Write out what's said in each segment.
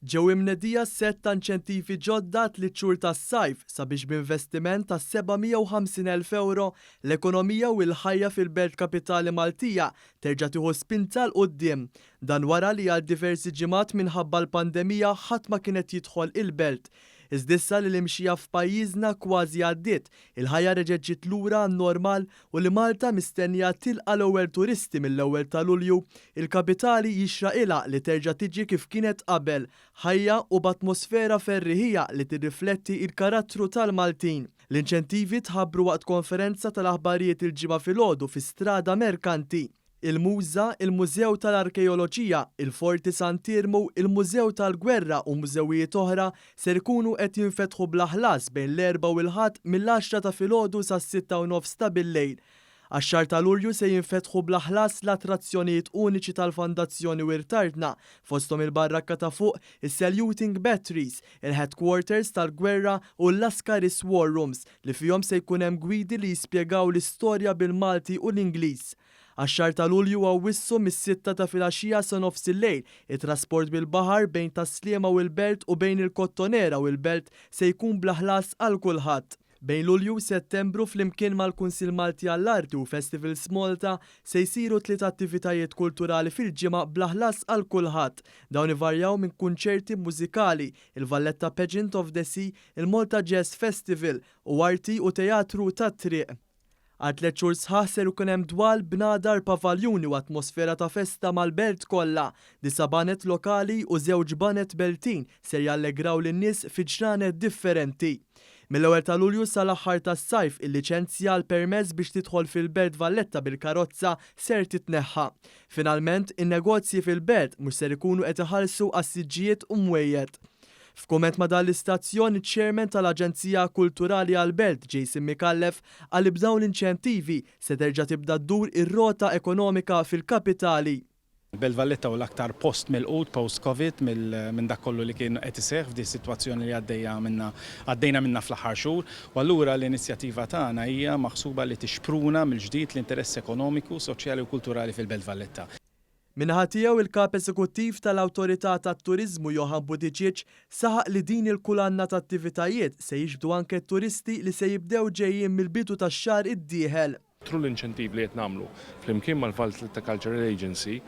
Ġew imnedija sett ta' inċentivi ġodda għat-tliet xhur tas-sajf sabiex b'investiment ta' 750 elf ewro, l-ekonomija u l-ħajja fil-Belt Kapitali Maltija terġa' tieħu spinta 'l quddiem. Dan wara li għal diversi ġimgħat minħabba l-pandemija ħadd ma kien qed jidħol il-Belt. Iżda issa li l-imxija f'pajjiżna kważi għaddiet, il-ħajja reġgħet ġiet lura għan-normal u li Malta mistennija tilqa' l-ewwel turisti mill-ewwel ta' Lulju, il-kapitali jixraqilha li terġa' tiġi kif kienet qabel, ħajja u b'atmosfera ferriħija li tirrifletti il-karattru tal-Maltin. L-inċentivi tħabbru waqt konferenza tal-aħbarijiet il-Ġimgħa filgħodu fi Strada Merkanti. il-Muża, il-Mużew tal-Arkeoloġija, il-Forti Sant'Iermu, il-Mużew tal-Gwerra u mużewijiet oħra ser ikunu qed jinfetħu bla ħlas bejn l-Erbgħa u l-Ħadd mill-għaxra ta' filgħodu sas-sitta u nofs ta' billejl. Għax-xahar ta' Lulju se jinfetħu bla ħlas l-attrazzjonijiet uniċi tal-Fondazzjoni Wirtartna, fosthom il-Barrakka ta' Fuq, is-Saluting Batteries, il-Headquarters tal-Gwerra u l-Lascaris War Rooms. li fihom se jkun hemm gwidi li jispjegaw l-istorja bil-Malti u l-Ingliż. Għax-xahar ta' Lulju u Awwissu mis-sitta ta' filgħaxija sa nofs il-lejl, it-trasport bil-baħar bejn Tas-Sliema u l-Belt u bejn il-Kottonera u l-Belt se jkun bla ħlas għal kulħadd. Bejn Lulju u Settembru, flimkien mal-Kunsill Malti għall-Arti u Festivals Malta, se jsiru tliet attivitajiet kulturali fil-ġimgħa bla ħlas għal kulħadd. Dawn ivarjaw minn kunċerti mużikali, il-Valletta Pageant of the Sea, il-Malta Jazz Festival u Arti u Teatru tat-Triq. Għal tliet xhur sħaħ ser ikun hemm dwal, bnadar, pavaljuni u atmosfera ta' festa mal-belt kollha. Disa' baned lokali u żewġ baned Beltin ser jallegraw lin-nies fi ġranet differenti. Mill-ewwel ta' Lulju sa l-aħħar tas-Sajf il-liċenzja għal permess biex tidħol fil-Belt Valletta bil-karozza ser titneħħa. Finalment, in-negozji fil-Belt mhux ser ikunu qed iħallsu għas-siġġijiet u mwejjed. F'kumment ma' dan l-istazzjon, iċ-Chairman tal-Aġenzija Kulturali għall-Belt, Jason Micallef, qal li b'dawn l-inċentivi se terġa' tibda ddur ir-rota ekonomika fil-kapitali. Il-Belt Valletta hu l-aktar post milqut post-Covid minn dak kollu li kien qed iseħħ f'di s-sitwazzjoni li għaddejja minnha għaddejna minnha fl-aħħar xhur u allura l-inizjattiva tagħna hija maħsuba li tixpruna mill-ġdid l-interess ekonomiku, soċjali u kulturali fil-Belt Valletta. Min-naħa tiegħu, il-Kap Eżekuttiv tal-Awtorità tat-Turiżmu Johann Buttigieg saħaq li din il-kulanna ta' attivitajiet se jiġbdu anke t-turisti li se jibdew ġejjin mill-bidu tax-xahar id-dieħel. Thru l-inċentivi li qed nagħmlu flimkien mal-Valletta Cultural Agency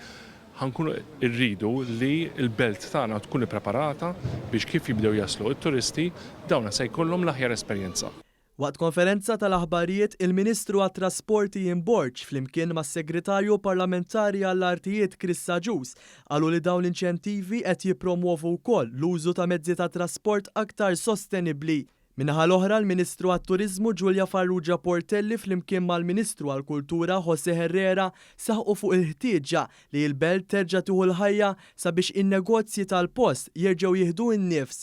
ħa nkunu rridu li l-belt tagħna tkun ippreparata biex kif jibdew jaslu t-turisti, dawna se jkollhom l-aħjar esperjenza. Waqt konferenza tal-aħbarijiet, il-Ministru għat-Trasporti Ian Borg flimkien mas-Segretarju Parlamentari għall-Artijiet Chris Agius qalu li dawn l-inċentivi qed jippromwovu wkoll l-użu ta' mezzi ta' trasport aktar sostenibbli. Min-naħa l-oħra, l-Ministru għat-Turiżmu Julia Farrugia Portelli flimkien mal-Ministru għall-Kultura José Herrera saħqu fuq il-ħtieġa li l-belt terġa' tieħu l-ħajja sabiex in-negozji tal-post jerġgħu jieħdu n-nifs